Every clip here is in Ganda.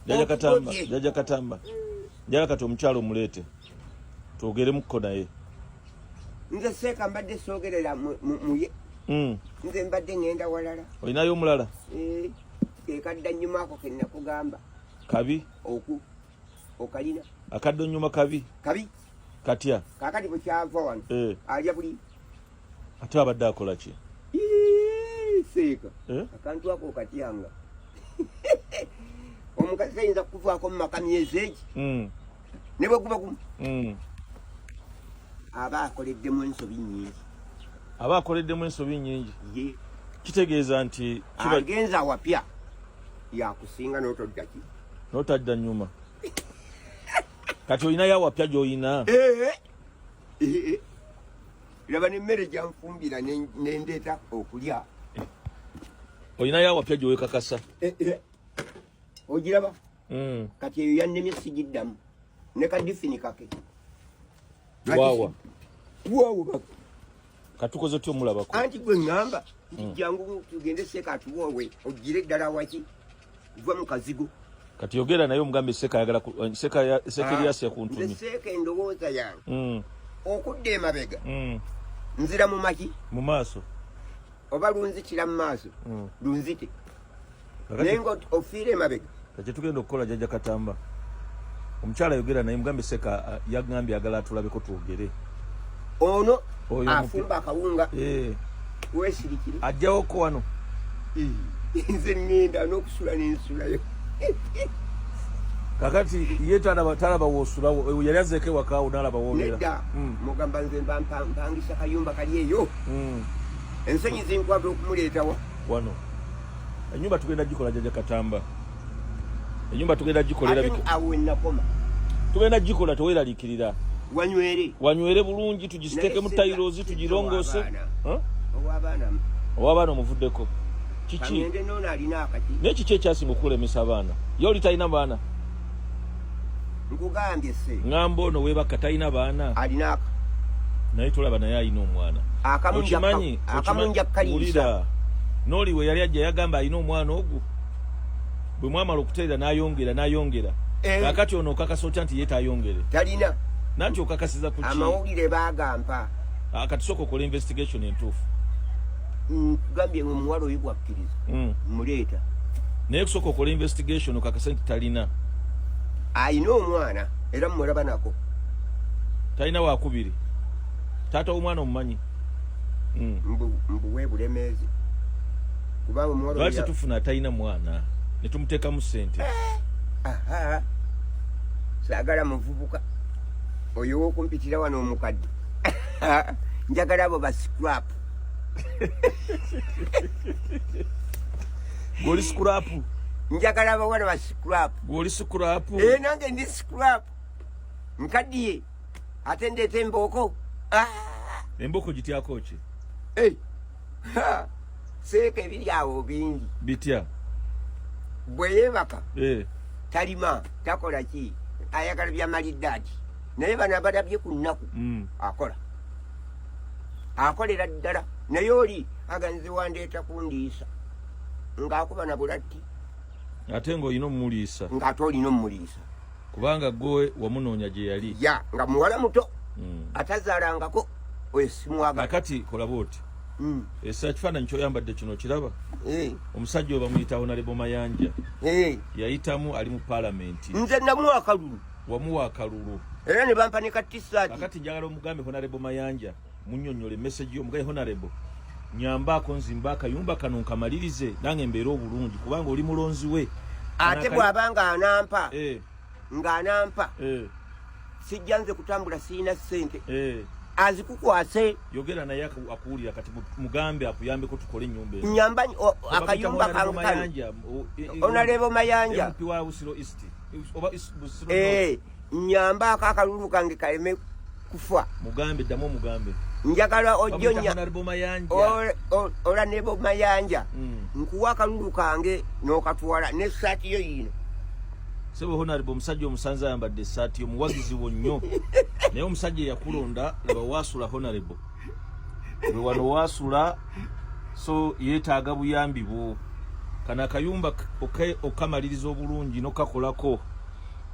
jaja katamba jaja katamba jaja kati omukyalo omuleete twogeremukko naye nze seeka mbadde soogerera muye hmm. nze mbadde ngenda walala olinayo omulala eh, ekadda nnyuma ako kenakugamba kabi oku okalina akadda onnyuma kabi kabi katya kakati bwekyava wano eh. alya buli ate abadde akola ki seeka eh? akantu ako okatyanga omukazi ayinza kukuvaako mu maka myezi egi hmm. ne bwe guba gumu hmm. aba akoleddemu ensobi nyingi aba akoleddemu ensobi nyingi ye kitegeeza nti agenza awapya yakusinga notoddaki notadda nyuma kati olinayo awapya gyolina eh, eh. laba nemmere gyanfumbira nendeeta okulya olinayo awapya gyewekakasa eh, eh. ogiraba hmm. kati eyo yannemye sigiddamu ne kadifini kake wawa wawa katukoze otya omulabako anti gwe ŋŋamba nti hmm. jangu tugende seeka atuwoowe ogire ddala waki Vwa mukazigo. Kati yogera naye omugambe seka yagala eh, seka ya seka ya ah, seka kuntumye. Seka endowoza yange. Mm. Okudde emabega. Mm. Nzira mu maki. Mu maso. Oba lunzi kila mu maso. Mm. Lunzite. Nengo ofire emabega. Kati tugenda okukola jaja katamba. Omukyala yogera naye mugambe seka eh, yagambye agala atulabeko twogere. ono afumba akawunga eh. wesirikire ajjawo ko wano nze ŋŋenda n'okusula n'ensulayo kakati ye talaba talaba wosulawo yali azeeko ewakaawo nalaba wobeera nedda hmm. mugamba nze mpangisa kayumba kali eyo hmm. ensonyi zinkwata okumuleetawa wano enyumba tugenda gikola jaja katamba enyumba tugenda gikolera tugenda gikola teweralikirira wanywere wanywere bulungi tugisiteke mu tailozi tugirongose owabaana omuvuddeko kiki naye kiki ekyasinga okukulemesa abaana ye oli talina baana nkugambye se ngamba ono webaka talina baana alinaka naye tolaba naye alina omwana okimanyi okimanyi wulira noli we yali ajja yagamba alina omwana ogwo bwe mwamala okutereera n'ayongera n'ayongera eh. kakati ono okakasa otya nti ye tayongere talina nanti okakasiza ku amawulire bagampa ah, kati soka okola investigation entuufu nkugambye nga omuwala oyo gwakkiriza hmm. muleeta naye kusooka okola investigation okakase nti talina alina omwana era mumulaba nako talina wakubiri taata w'omwana omumanyi hmm. mbuwe bulemeezi kubanga omuwala lwaki tetufuna atalina mwana ne tumuteekamu ssente eh, saagala muvubuka oyo wokumpitira wano omukadde njagala abo ba scrap goli scrap njagala abawala ba scrap goli scrap eh, nange ndi scrap nkaddiye ate ndeeta embooko ah! embooko gityako ki seeka ebiri awo bingi bitya bwe yeebaka eh. talima takola ki ayagala byamaliddaadi naye bano abalabye ku nnaku mm. akola akolera ddala naye oli aganzi wandeeta kundiisa ng'akuba na bulatti ate ng'olina omumuliisa ng'ate olina omumuliisa kubanga gwe wamunoonya gye yali ya nga muwala muto mm. atazaalangako oyesimwaga nakati kolaba oti mm. esa ekifaananyi kyoyambadde kino kiraba eh. omusajja oba muyita honalebo mayanja eh. yayitamu ali mu palamenti nze namuwa akalulu wamuwa akalulu era ne bampa ne katisati nakati njagala omugambe honalebo mayanja munyonyole message yo mugaye honorable nyambako nzimba akayumba kano nkamalirize nange mbeera obulungi kubanga oli mulonzi we ate bwaba nga anampa eh. nga anampa eh. sijja nze kutambula sirina sente eh. azikukwase yogera naye akuwulira kati mugambe akuyambeko tukole enyumba nyamba akayumba kankano onalebo mayanja mpi wa usiro east oba busiro nyambaako akalulu kange kaleme kufa mugambe ddamu omugambe njagala ojjonya ola nebo mayanja mm. nkuwa akalulu kange n'okatwala n'essaati yo yiino sebo honarebo omusajja omusanze ayambadde essaati omuwagizi wo nnyo naye omusajja eyakulonda laba waasula honarebo we wano wasula so yetaaga buyambi bwo kana akayumba okamaliriza obulungi nokakolako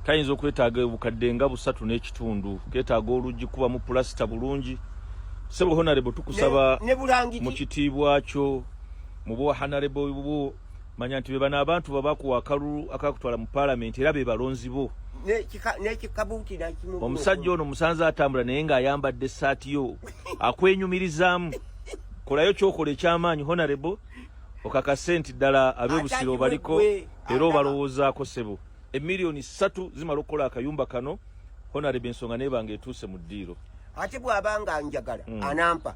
kayinza okwetaaga obukadde nga busatu n'ekitundu ketaaga oluggi kuba mu pulasita bulungi sebo honarebo tukusaba mu kitiibwa kyo mu bwa hanarebo bwo manya nti bebano abantu babakuwa akalulu akakutwala mu palamenti era bebalonzi bo omusajja ono musanze atambula naye ng'ayambadde essaati yo akwenyumirizaamu kolayo kyokola ekyamaanyi honarebo okakase nti ddala abebusiro obaliko era obalowoozaako sebo emiliyoni ssatu zimala okukola akayumba kano honarebo ensonga nebanga etuuse mu ddiiro ate bw'aba nga njagala hmm. anampa